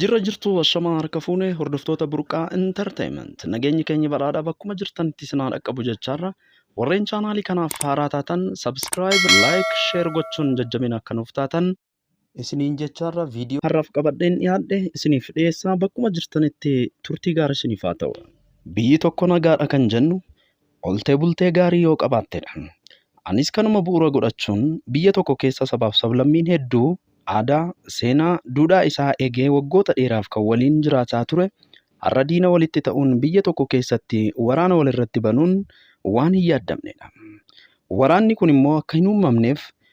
Jirra jirtu washamaa harka fuune hordoftoota burqaa intarteeyiment nageenyi keenya badhaadhaa bakkuma jirtanitti isin haa dhaqqabu jechaarra warreen chaanaalii kanaaf haaraa taatan sabskiraayib laayik sheer gochuun jajjabina akka nuuf taatan isiniin jechaarra viidiyoo har'aaf qabadheen dhiyaadhe isiniif dhiyeessaa bakkuma jirtanitti turtii gaarii isiniif haa ta'u. Biyyi tokko nagaadha kan jennu oltee bultee gaarii yoo qabaattedha. Anis kanuma bu'uura godhachuun biyya tokko keessa sabaaf sablammiin hedduu aadaa, seenaa, duudhaa isaa eegee waggoota dheeraaf kan waliin jiraataa ture har'a diina walitti ta'uun biyya tokko keessatti waraana walirratti banuun waan hin yaaddamnedha. Waraanni kun immoo akka hin uumamneef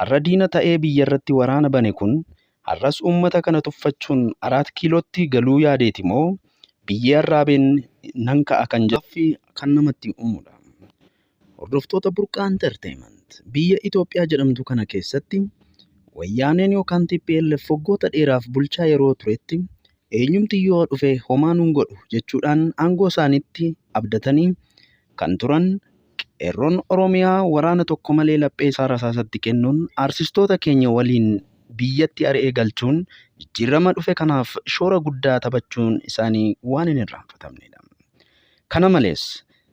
har'a diina ta'ee biyyarratti waraana bane kun har'as uummata kana tuffachuun Araat Kiilootti galuu yaadeeti moo biyyee arraabeen nan ka'a kan jedhu gaaffii kan namatti uumudha. Hordoftoota Burqaa Entertainment biyya Itoophiyaa jedhamtu kana keessatti Wayyaaneen yookaan tplf waggoota dheeraaf bulchaa yeroo turetti eenyumti yoo dhufe homaa nun godhu jechuudhaan aangoo isaaniitti abdatanii kan turan Qeerroon Oromiyaa waraana tokko malee laphee isaa rasaasatti kennuun aarsistoota keenya waliin biyyatti ari'ee galchuun jijjiirrama dhufe kanaaf shoora guddaa taphachuun isaanii waan hin irraanfatamneedha. Kana malees,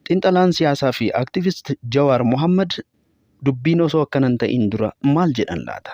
xinxalaan siyaasaa fi activist Jawaar Mohaammad dubbiin osoo akkana hin ta'iin dura maal jedhan laata?